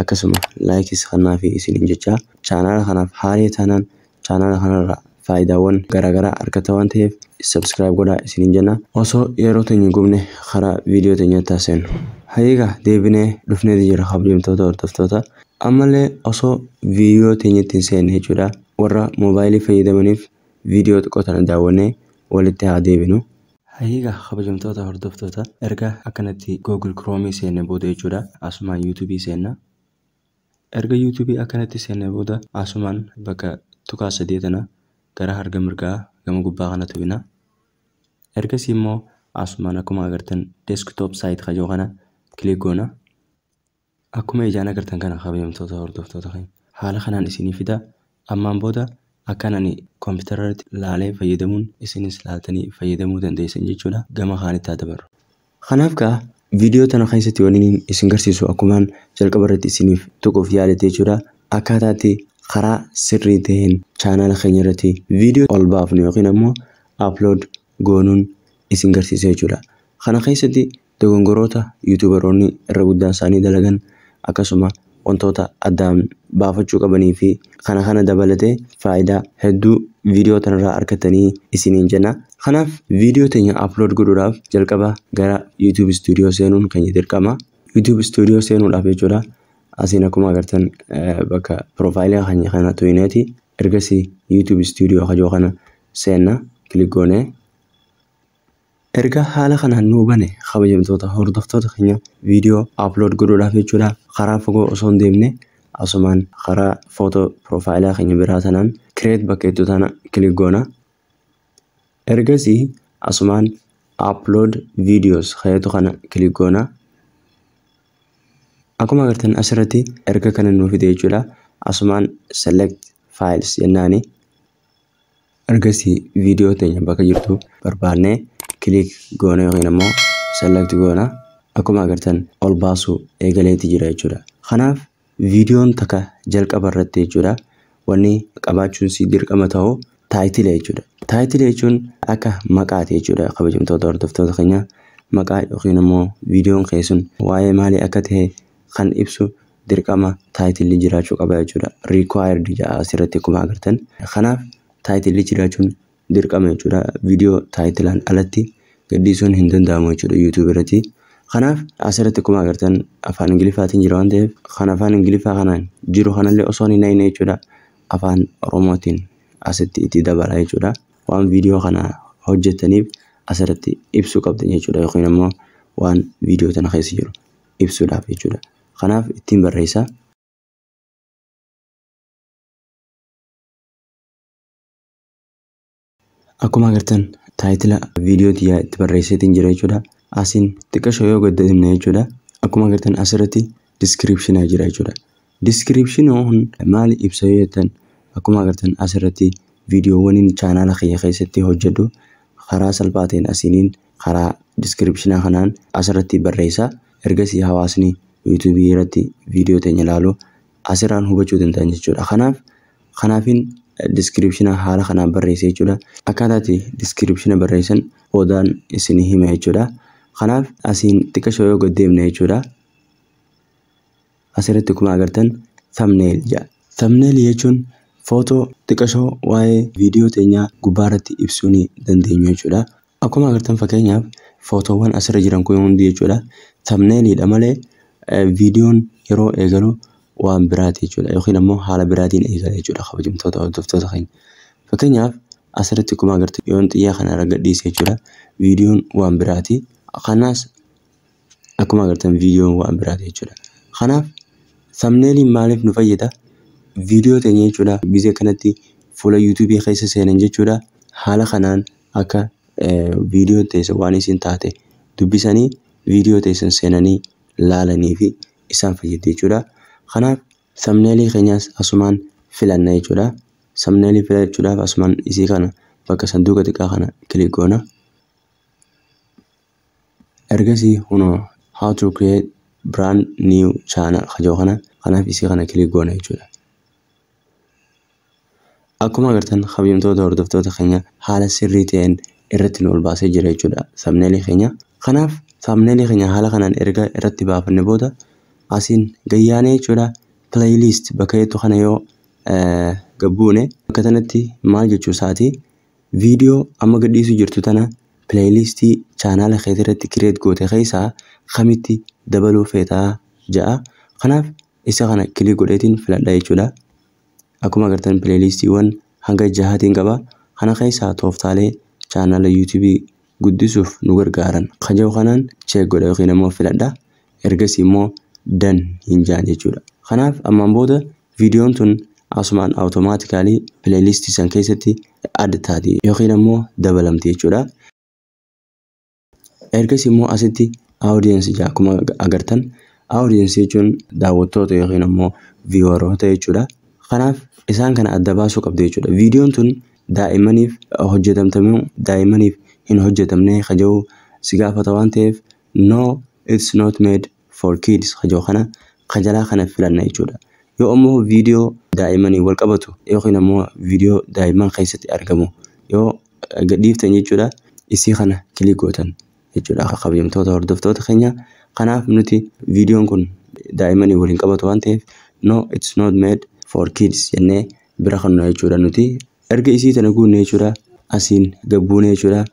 Akkasuma likes kan naafi isiniin jechaa channel kanaaf haaree taanaan channel kanarraa faayidaawwan garaagaraa argatta waan ta'eef subscribe godhaa isiniin jenna. Osoo yeroo teenya hin gubne karaa video teenyatti haa seennu. Hayyee egaa deebinee dhufneeti jirra kabajamtoota hordoftoota. Ammallee osoo video teenyatti hin seenne jechuudha warra mobile fayyadamaniif video xiqqoo tana daawwannee walitti haa deebinu. Hayee egaa kabajamtoota hordoftoota erga akkanatti google chrome seenne booda jechuudha asumaan youtube seenna erga youtube akkanatti seenne booda asumaan bakka tuqaa sadee tana gara harga mirgaa gama gubbaa kana tuqina ergasii immoo asumaan akkuma agartan desktop site kajoo kana click goona Akkuma ijaan agartan kana kabajamtoota hordoftoota keenya. Haala kanaan isinii fida. Ammaan booda akkan ani computer irratti laalee fayyadamuun isinis laaltanii fayyadamuu dandeessan jechuudha. Gama kaanitti haa dabarru. Kanaaf kaa video tana keessatti wanniin isin garsiisu akkumaan jalqaba irratti isiniif tuquuf yaale jechuudha. Akkaataa itti karaa sirrii ta'een channel keenya irratti video ol baafnu yookiin ammoo upload goonuun isin garsiisa jechuudha. Kana keessatti Dogongoroota Yuutuubaroonni irra guddaan isaanii dalagan akkasuma wantoota addaan baafachuu qabanii fi kana kana dabalatee faayidaa hedduu viidiyoo tanarraa arkattanii isiniin jenna. Kanaaf viidiyoo teenya upload godhuudhaaf jalqaba gara YouTube Studio seenuun keenya dirqama. YouTube Studio seenuudhaaf jechuudha asiin akkuma agartan bakka profile keenya kana tuyineeti ergasii YouTube Studio kajoo kana seenna click goonee Ergaa haala kanaan nu hubane kabajamtoota hordoftoota keenya video upload godhuudhaaf jechuudha karaa fagoo osoo hin deemne asumaan karaa photo profile keenya biraa tanaan create bakka jettu tana click goona ergasii asumaan upload videos kan jettu kana click goona akkuma agartan asirratti erga kana nu fide jechuudha asumaan select files jennaani Ergasii viidiyoo teenya bakka jirtu barbaanne click goona yookiin ammoo select goona. Akkuma agartan ol baasu eegaleeti jira jechuudha. Kanaaf viidiyoon takka jalqaba irratti jechuudha wanni qabaachuun si dirqama ta'u taayitila jechuudha. Taayitila jechuun akka maqaati jechuudha kabajamtoota hordoftoota keenya maqaa yookiin ammoo viidiyoon kee sun waa'ee maalii akka ta'e kan ibsu dirqama taayitilli jiraachuu qaba jechuudha. Required jedha asirratti akkuma agartan. Kanaaf taayitilli jiraachuun dirqama jechuudha. Viidiyoo taayitilaan alatti gadhiisuun hin danda'amu jechuudha YouTube irratti. Kanaaf asirratti akkuma agartan afaan Ingiliffaatiin jira waan ta'eef kan afaan Ingiliffaa kanaan jiru kanallee osoo hin hidhine jechuudha afaan Oromootiin asitti itti dabala jechuudha. Waan viidiyoo kana hojjettaniif asirratti ibsuu qabdan jechuudha yookiin immoo waan viidiyoo tana keessa jiru. ibsuudhaaf jechuudha. Kanaaf ittiin barreessa. Akkuma agartan taayitila viidiyoo tiyyaa itti barreesseetiin jira jechuudha. Asiin xiqqashoo yoo gadda himne jechuudha. Akkuma agartan asirratti diskiriipshinaa jira jechuudha. Description kun maali ibsa yoo jettan akkuma agartan asirratti viidiyoowwaniin chaanaala kiyya keessatti hojjedhu karaa salphaa ta'een asiiniin karaa description kanaan asirratti barreessa ergasii hawaasni YouTube irratti viidiyoo teenya ilaalu asirraan hubachuu danda'an jechuudha kanaaf kanaafin description haala kanaan barreessa jechuudha akkaataati description barreessan boodaan isin hima jechuudha kanaaf asiin xiqqasho yoo gad deemne jechuudha Asirratti akkuma agartan thumbnail jedha. Thumbnail jechuun footoo xiqashoo waa'ee viidiyoo teenyaa gubbaarratti ibsuu ni dandeenyu jechuudha. Akkuma agartan fakkeenyaaf footoowwan asirra jiran kun hundi jechuudha thumbnail dha malee viidiyoon yeroo eegalu waan biraati jechuudha yookiin ammoo haala biraatiin eegala jechuudha kabajamtoota hordoftoota keenya. Fakkeenyaaf asirratti akkuma agartan yoon xiyyaa kana irra gadhiise jechuudha viidiyoon waan biraati. Kanas Akkuma agartan viidiyoon waan biraati jechuudha. Kanaaf thumbnailiin maaliif nu fayyada? Viidiyoo teenya jechuudha gizee kanatti fuula YouTube keessa seenan jechuudha. Haala kanaan akka viidiyoon teessa waan isin taate dubbisanii viidiyoo teessan seenanii laalanii fi isaan fayyadde jechuudha. Kanaaf thumbnailii keenyaas asumaan filanna jechuudha. Thumbnailii filachuudhaaf asumaan isii kana bakka sanduuqa xiqqaa kana kilik goona. Ergasii kunoo how to create brand new channel ka jedhu kana kanaaf isii kana click goona jechuudha. Akkuma agartan kabajamtoota hordoftoota keenya haala sirrii ta'een irratti nu ol baasee jira jechuudha thumbnail keenya. Kanaaf thumbnail keenya haala kanaan erga irratti baafanne booda asiin gayyaanee jechuudha playlist bakka jettu kana yoo gabbuune bakka tanatti maal jechuu isaati Viidiyoo amma gadhiisu jirtu tana playlist chaanaala keeti irratti create goote keessaa kamitti dabaluu feeta ja'a. Kanaaf isa kana click godheetiin filadha jechuudha. Akkuma agartan playlistiiwwan hanga jahaatiin qaba. Kana keessaa tooftaalee chaanaala YouTube guddisuuf nu gargaaran kan jedhu kanaan check godha yookiin ammoo filadha. Ergasii immoo dan hin jaan jechuudha. Kanaaf ammaan booda Videon tun asumaan automatically playlist san keessatti add taati yookiin ammoo dabalamti jechuudha. Ergasii immoo asitti audience jaa akkuma agartan audience jechuun daawwattoota yookiin ammoo vieweroota jechuudha. Kanaaf isaan kana adda baasuu qabda jechuudha. Videon tun daa'immaniif hojjetamtamuu daa'immaniif hin hojjetamne kaja'u si gaafata waan ta'eef no it's not made for kids ka jiru kana ka jalaa kana filanna jechuudha. Yoo ammoo viidiyoo daa'imaniin wal qabatu yookiin ammoo viidiyoo daa'imman keessatti argamu yoo gadhiiftan jechuudha isii kana kilik gootan jechuudha akka kabajamtoota hordoftoota keenya. Kanaaf nuti viidiyoon kun daa'imanii waliin qabatu waan ta'eef no it's not made for kids jennee bira kannu jechuudha nuti. Erga isii tana guunne jechuudha asiin gabbuune jechuudha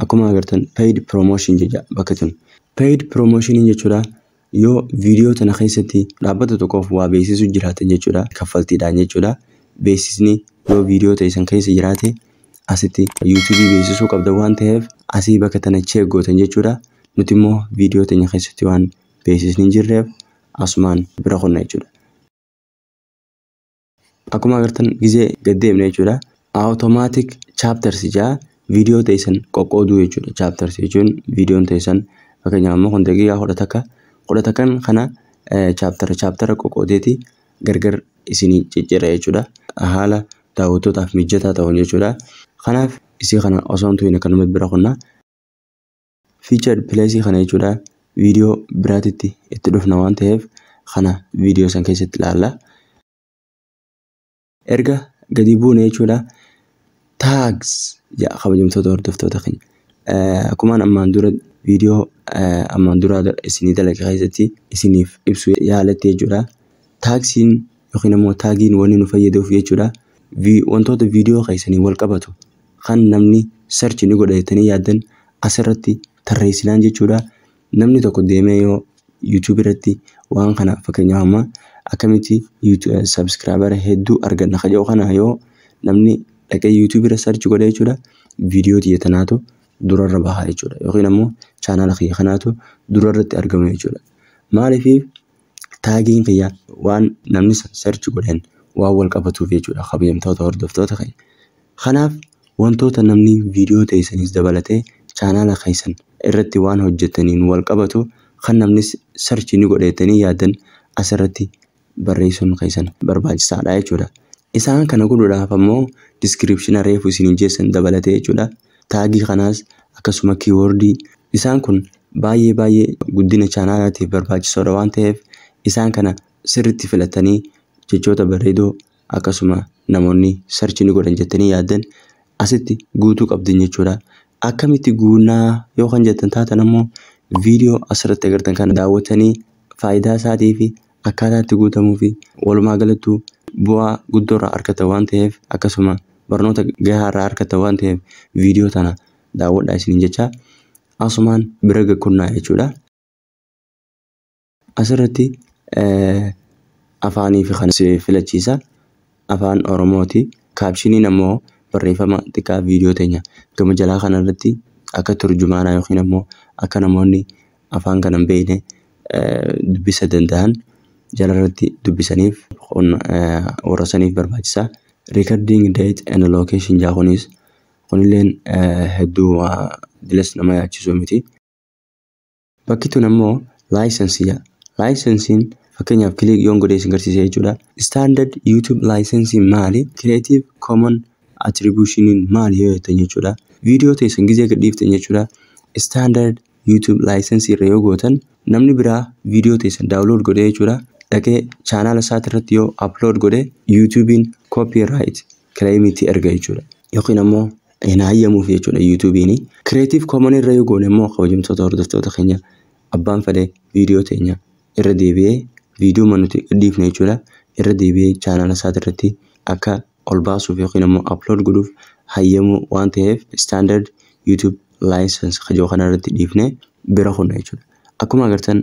Akkuma agartan paid promotion jecha bakka tun. Paid promotion jechuudha yoo viidiyoo tana keessatti dhaabbata tokkoof waa beeksisu jiraatan jechuudha kaffaltiidhaan jechuudha. Beeksisni yoo viidiyoo teessan keessa jiraate asitti yuutuubii beeksisuu qabda waan ta'eef asii bakka tana cheek gootan jechuudha. Nuti immoo viidiyoo teenya keessatti waan beeksisni hin jirreef asumaan bira kunna jechuudha. Akkuma agartan gizee gad deemne jechuudha. Automatic chapters jaa viidiyoo teessan qoqqooduu jechuudha. Chapters jechuun viidiyoon teessan fakkeenyaaf amma kun daqiiqaa kudha takka kudha takkan kana chaptera chaptera qoqqoodeeti gargar isinii ciccira jechuudha. Haala daawwattootaaf mijataa ta'uun jechuudha. Kanaaf isii kana osoo hin tuhin akkanumatti bira kunna. Featured place kana jechuudha video biraatitti itti dhufna waan ta'eef kana video san keessatti ilaalla. Erga gadi buune jechuudha tags ja kabajamtoota hordoftoota keenya. Akkuma ammaan dura video ammaan dura isinii dalage keessatti isiniif ibsu yaaletti jechuudha. Taagsiin yookiin immoo taagiin wanni nu fayyaduuf jechuudha. Wantoota video keessanii wal qabatu kan namni search ni godha jettanii yaaddan asirratti tarreessinaan jechuudha. Namni tokko deemee yoo YouTube irratti waan kana fakkeenyaaf amma akkamitti subscriber hedduu arganna ka jedhu kana yoo namni dhaqee YouTube irra search godha jechuudha. Viidiyoo tiyya tanaatu durarra baha jechuudha. Yookiin ammoo chaanaala kiyya kanaatu durarratti argama jechuudha. Maaliif taagiin kiyya waan namni sun search godhen waan wal qabatuuf jechuudha kabajamtoota hordoftoota keenya. Kanaaf wantoota namni viidiyoo teessanis dabalatee chaanaala keessan irratti waan hojjettaniin wal qabatu kan namni search ni godheettanii yaaddan asirratti barreessuun keessan barbaachisaadha jechuudha. Isaan kana godhudhaaf ammoo description reefu isiniin jeessan dabalatee jechuudha. Taagii kanaas akkasuma keyword isaan kun baay'ee baay'ee guddina chaanaalaatiif barbaachisoodha waan ta'eef isaan kana sirritti filattanii jechoota bareedoo akkasuma namoonni search ni godhan jettanii yaaddan asitti guutuu qabdan jechuudha. Akkamitti guunnaa yoo kan jettan taatan ammoo video asirratti agartan kana daawwattanii faayidaa isaatii fi akkaataa itti guutamuu fi walumaa galattuu bu'aa guddoo irraa argata waan ta'eef akkasuma barnoota gahaa irraa argata waan ta'eef viidiyoo tana daawwadhaa isiniin jecha asumaan bira gakkunnaa jechuudha. Asirratti afaanii fi kan si filachiisa afaan Oromooti. Kaabshiniin ammoo barreeffama xiqqaa viidiyoo teenya gama jalaa kanarratti akka turjumaanaa yookiin ammoo akka namoonni afaan kana hin beekne dubbisa danda'an jalarratti dubbisaniif warra saniif barbaachisa. Recording date and location jaa kunis kunilleen hedduu dilas nama yaachisuu miti. Bakki tun ammoo laayisansii jaa. Laayisansiin fakkeenyaaf kiliik yoon godhee isin garsiisee jechuudha. Standard YouTube laayisansiin maali? Creative Common Attributionin maali yoo jettan jechuudha. Viidiyoo teessan gizee gadhiiftan jechuudha. Standard YouTube license irra yoo gootan namni biraa video teessan download godhee jechuudha dhaqee channel isaati irratti yoo upload godhe YouTube'n copyright claim itti erga jechuudha yookiin ammoo hin hayyamuuf jechuudha YouTube'n creative common irra yoo goone immoo kabajamtoota hordoftoota keenya abbaan fedhee video teenya irra deebi'ee video manuti dhiifne jechuudha irra deebi'ee channel isaati irratti akka ol baasuuf yookiin ammoo upload godhuuf hayyamu waan ta'eef standard YouTube license ka jiru kanarratti dhiifnee bira kunna jechuudha. Akkuma agartan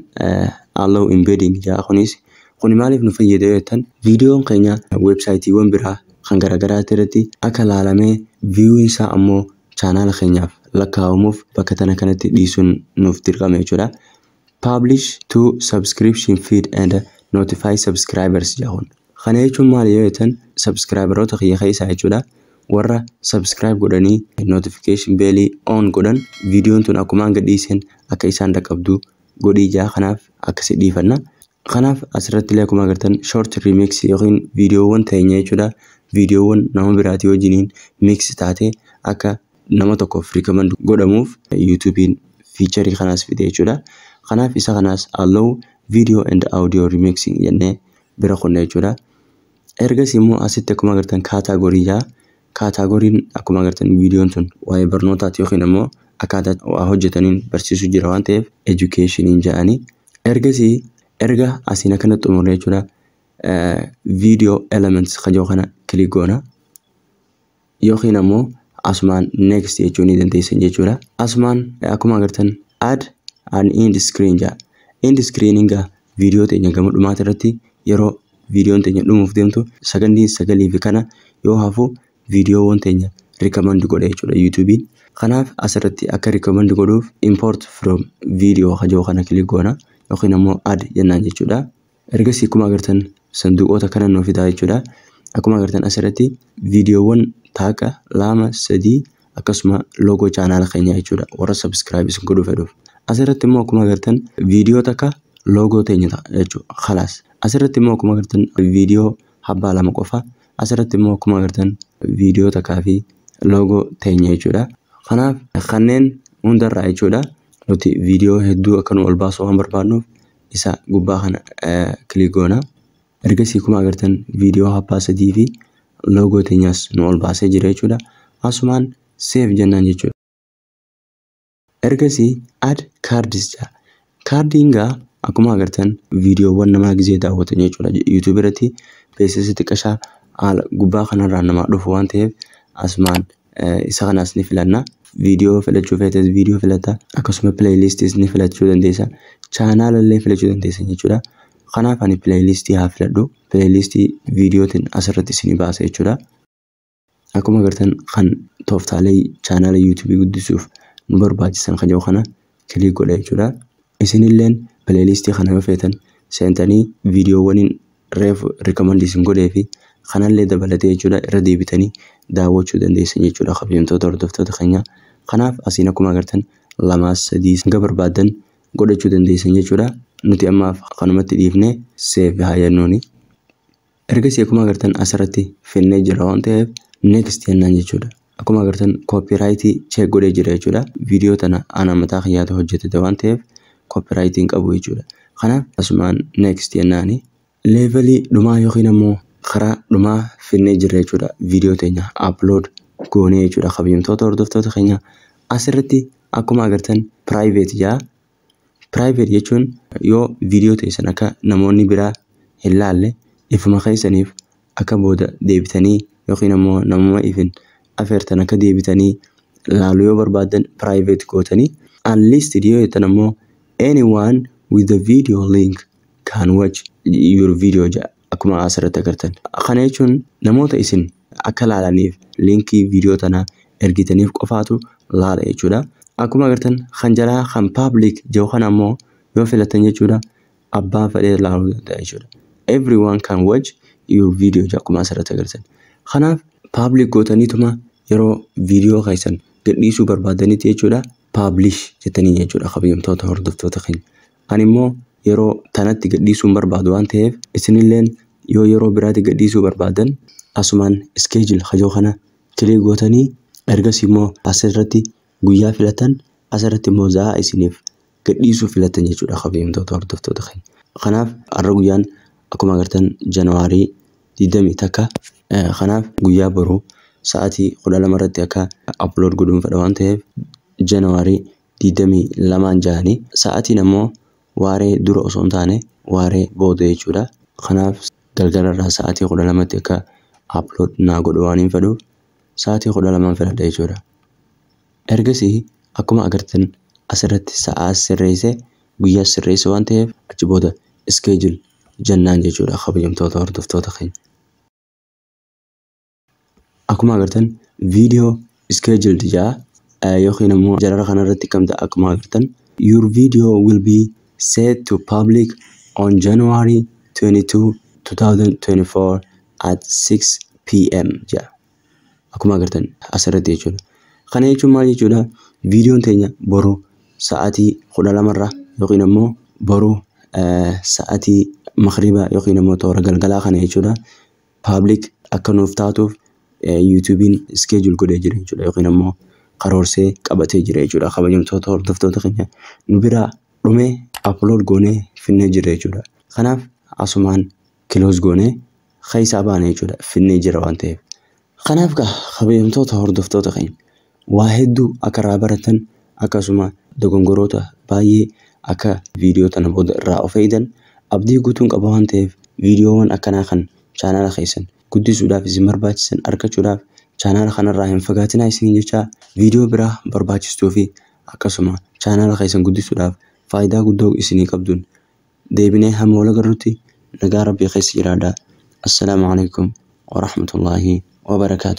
allow embedding jaa kunis kuni maaliif nu fayyada yoo jettan viidiyoon keenya websaayitiiwwan biraa kan garaagaraatti irratti akka laalamee viewin isaa ammoo chaanaala keenyaaf lakkaa'amuuf bakka tana kanatti dhiisuun nuuf dirqama jechuudha. Publish to subscription feed and notify subscribers jedha kun. Kana jechuun maali yoo jettan subscriberoota kiyya keessaa jechuudha. Warra subscribe godhanii notification bell on godhan viidiyoon tun akkumaan gadhiiseen akka isaan dhaqqabdu godhii jaa kanaaf akkasi dhiifanna. Kanaaf asirratti illee akkuma agartan short remix yookiin viidiyoowwan teenya jechuudha. Viidiyoowwan nama biraatii wajjiniin mix taate akka nama tokkoof recommend godhamuuf YouTube'n feature kanaas fide jechuudha. Kanaaf isa kanaas allow video and audio remixing jennee bira kunna jechuudha. Ergas immoo asitti akkuma agartan category jaa Kaataagoriin akkuma agartan viidiyoon tun waa'ee barnootaati yookiin ammoo akkaataa waa hojjetaniin barsiisuu jira waan ta'eef educationin ja'anii ergasii erga asiin akkana xumurre jechuudha video elements ka jiru kana click goona yookiin ammoo asumaan next jechuu ni dandeessan jechuudha asumaan akkuma agartan add an end screen ja'a end screenin gaa viidiyoo teenya gama dhumaati irratti yeroo viidiyoon teenya dhumuuf deemtu sagandiin sagalii fi kana yoo hafu viidiyoowwan teenya rikkamandi godha jechuudha yuutuubiin. Kanaaf asirratti akka rikkamandi godhuuf import from video hajoo kana kilik goona yookiin ammoo ad jennaan jechuudha. Ergasii akkuma agartan sanduuqoota kana nuu fidaa jechuudha. Akkuma agartan asirratti viidiyoowwan taaqa lama sadii akkasuma loogoo chaanaala keenyaa jechuudha warra subscribe isin godhuu fedhuuf asirratti immoo akkuma agartan viidiyoo takka loogoo teenya ta'a jechuudha khalaas asirratti immoo akkuma agartan viidiyoo habbaa lama qofa asirratti immoo akkuma agartan viidiyoo takkaa fi loogoo teenya jechuudha kanaaf kanneen hundarraa jechuudha nuti viidiyoo hedduu akka nu ol baasuu waan barbaadnuuf isa gubbaa kana eh, kilik goona Ergasii akkuma agartan viidiyoo haphaa sadii fi loogoo teenyaas nu ol baasee jira jechuudha. Asumaan seef jennaan jechuudha. Ergasii ad kaardis jira. Kaardiin gaa akkuma agartan viidiyoowwan namaa gizee daawwatan jechuudha. Yuutuubii irratti beeksisa xiqqashaa haala gubbaa kanarraa namaa dhufu waan ta'eef asumaan isa kanas ni filanna. Viidiyoo filachuu feetes viidiyoo filata. Akkasuma pileeyiliistiis ni filachuu dandeessa. Chaanaala illee filachuu dandeessa jechuudha. Kanaaf ani pileeyiliistii haa filadhu. Pileeyiliistii viidiyootiin asirratti isinii baasa jechuudha. Akkuma agartan kan tooftaalee chaanaala yuutuubii guddisuuf nu barbaachisan kan jiru kana click godha jechuudha. Isinilleen playlist kana yoo feetan seentanii viidiyoowwaniin reef recommend isin godhee fi kanallee dabalatee jechuudha irra deebitanii daawwachuu dandeessan jechuudha kabajamtoota hordoftoota keenya. Kanaaf asiin akkuma agartan lamaa sadii hanga barbaaddan godhachuu dandeessan jechuudha. Nuti ammaaf kanumatti dhiifnee save haa jennuuni. Ergasii akkuma agartan asirratti finnee jira waan ta'eef next jennaan jechuudha. Akkuma agartan copyright check godhee jira jechuudha. Viidiyoo tana ana mataa kiyyaatu hojjetete waan ta'eef copyright hin qabu jechuudha. Kanaaf asumaan next jennaani. Leevelii dhumaa yookiin ammoo karaa dhumaa finnee jirra jechuudha. Viidiyoo teenya upload goonee jechuudha kabajamtoota hordoftoota keenya. Asirratti akkuma agartan private jaa Private jechuun yoo viidiyoo teessan akka namoonni biraa hin laalle ifuma keessaniif akka booda deebitanii yookiin ammoo namuma ifin afeertan akka deebitanii laaluu yoo barbaaddan private gootanii unlisted yoo jettan ammoo anyone with the video link can watch your video jedha. akkuma asirratti agartan. Kana jechuun namoota isin akka laalaniif liinkii viidiyoo tanaa ergitaniif qofaatu laala jechuudha. Akkuma agartan kan jalaa kan public jiru kana ammoo yoo filatan jechuudha abbaan fedhee laaluu danda'a jechuudha. Everyone can watch your video jedha akkuma asirratti agartan. Kanaaf public gootaniituma yeroo viidiyoo keessan gadhiisuu barbaadanitti jechuudha publish jettanii jechuudha kabajamtoota hordoftoota keenya. Ani immoo yeroo tanatti gadhiisuu hin barbaadu waan ta'eef isinilleen yoo yeroo biraati gadhiisuu barbaadan asumaan schedule kajoo kana click gootanii ergasii immoo asirratti guyyaa filatan asirratti immoo za'aa isiniif gadhiisuu filatan jechuudha kabajamtoota hordoftoota keenya. Kanaaf har'a guyyaan akkuma agartan January 21 kanaaf guyyaa boru sa'aatii 12 irratti akka upload godhuun fedha waan ta'eef January 22n jahanii sa'atiin ammoo waaree dura osoo hin taane waaree booda jechuudha. Kanaaf galgala irraa sa'atii 12tti akka upload naa godhu waanin fedhuuf sa'atii 12n filadha jechuudha. Ergasii akkuma agartan asirratti sa'aas sirreesse guyyaas sirreesse waan ta'eef achi booda schedule jennaan jechuudha kabajamtoota hordoftoota keenya. Akkuma agartan video scheduled jaa yookiin ammoo jarara kana irratti kamta akkuma agartan your video will be set to public on January 22 2024 at 6 pm jaa akkuma agartan asirratti jechuudha kana jechuun maal jechuudha viidiyoon teenya boru sa'aatii 12 irra yookiin ammoo boru sa'aatii makriba yookiin ammoo toora galgalaa kana jechuudha public akka nuuf taatuuf YouTube'n schedule godhee jira jechuudha yookiin ammoo karoorsee qabatee jira jechuudha kabajamtoota hordoftoota keenya nu biraa dhumee upload goonee finnee jira jechuudha kanaaf asumaan close goonee keessaa baana jechuudha finnee jira waan ta'eef kanaaf gaa kabajamtoota hordoftoota keenya Waa hedduu akka irraa baratan akkasuma dogongoroota baay'ee akka viidiyoo tana booda irraa of eegdan abdii guutuun qaba waan ta'eef viidiyoowwan akkanaa kan chaanaala keessan guddisuudhaaf isin barbaachisan argachuudhaaf chaanaala kanarraa hin fagaatinaa isiniin jechaa viidiyoo biraa barbaachistuu fi akkasuma chaanaala keessan guddisuudhaaf faayidaa guddoo isinii qabduun deebinee hamma wal agarrutti nagaa rabbii keessa jiraadhaa assalaamu alaikum warahmatullaahi wabarakaatu